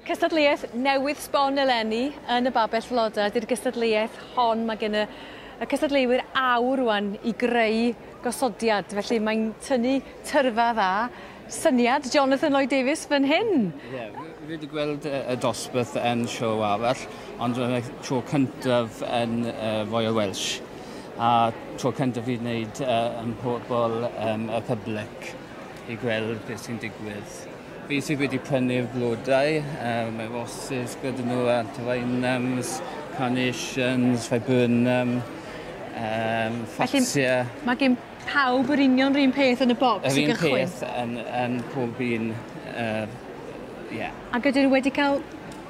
Cystadleuaeth newydd sbon eleni yn y babell floda ydy'r gystadleuaeth hon. Mae gen y, y cystadleuwyr awr rwan i greu gosodiad, felly mae'n tynnu tyrfa dda. Syniad Jonathan Lloyd Davies fan hyn. Ie, yeah, fi wedi gweld y dosbarth yn siow arall, ond yn y tro cyntaf yn uh, Royal Welsh. a tro cyntaf fi wneud uh, yn pobl um, y public i gweld beth sy'n digwydd. Fi sydd wedi prynu'r blodau, um, mae roses gyda nhw, antivinums, carnations, viburnum, um, ffatia. Mae gen pawb yr union rhywun peth yn y bocs i gychwyn? Yr un peth yn, yn pob un, uh, yeah. A gyda nhw wedi cael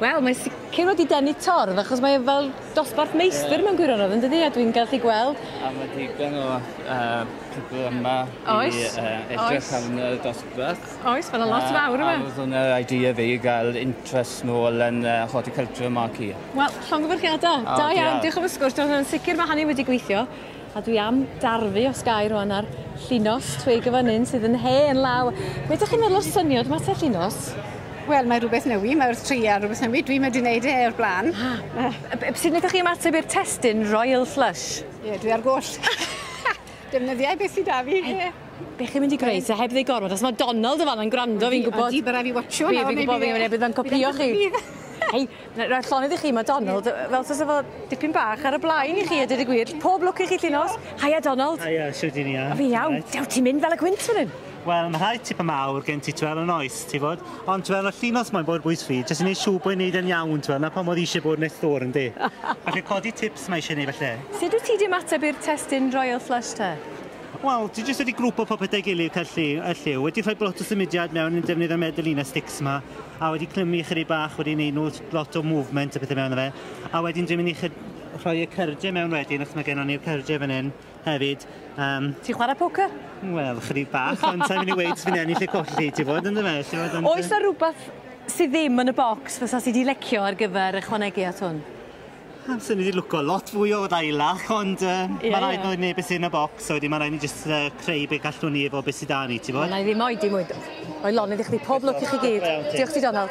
Wel, mae sicr wedi denu torf, achos mae e fel dosbarth meistr mewn gwirionedd, yn dydi? A dwi'n gallu gweld... A mae digon o uh, pobl yma oes, i uh, edrych arno y dosbarth. Oes, mae yna lot uh, fawr yma. A dyna'r idea fi i gael interest nôl yn uh, horticulture yma ac i. Wel, llongyfarchiadau. Oh, da iawn, diolch am y sgwrs. Dwi'n sicr mae hynny wedi gweithio. A dwi am darfu os gai rwan ar llinos twig y fynyn sydd yn hen law. Be dych chi'n meddwl o'r syniad yma te llinos? Wel, mae rhywbeth newi, mae wrth tri ar rhywbeth newi. Dwi wedi wneud e o'r blaen. Ah. Uh. Sut ydych chi ymateb i'r testyn Royal Flush? Ie, yeah, dwi ar goll. Defnyddiau beth sydd da fi. Ie. Be chi'n mynd i greu? Se heb ddeu gormod, os mae Donald yn fan yn gwrando, fi'n gwybod... Di, bydda fi watcho. Fi, fi'n gwybod, fi'n gwybod, bydd yn copio chi. Hei, Rhaid llonydd i chi, mae Donald fel sas efo dipyn bach ar y blaen i chi, a dweud y gwir. Pob lwc i chi lle nos. Haia Donald. Haia, siw dyn ni Fi iawn. Dew ti'n mynd fel y gwynt fan hyn. Wel, mae rhai tipyn mawr gen ti twel yn oes, ti fod? Ond twel yn y llinos mae'n bod bwys fi, jyst yn ei siw bod wneud yn iawn, twel, na pa modd eisiau bod nes ddwr yn di. Felly codi tips mae eisiau gwneud felly. Sut wyt ti di ymateb i'r testyn Royal Flush te? Wel, ti jyst wedi grwpo popeth a'i gilydd, cael lli, a lliw, wedi rhoi blot o symudiad mewn yn defnydd y medeline sticks ma, a wedi clymu ychydig bach, wedi wneud nhw lot o movement a pethau mewn fe. A wedyn dwi'n mynd i rhoi y cyrdiau mewn wedyn, achos mae gennym ni'r cyrdiau fan hyn hefyd. Um, Ti'n chwarae poker? Wel, chydig bach, ond sa'n mynd i weid fi'n ennill y colli, ti fod yn dyma. Oes na rhywbeth sydd ddim yn y bocs fysa sydd wedi lecio ar gyfer ychwanegu at hwn? Amser ni wedi lwco lot fwy o ddailach, ond uh, yeah, mae rhaid yeah. bod neb sy'n y bocs, so wedi mae rhaid ni jyst uh, creu beth gallwn ni efo beth sydd da ni, ti fod? Na i ddim oed i mwyd. O'i lon, ydych chi pob lwc i chi gyd. Diolch ti, Donald.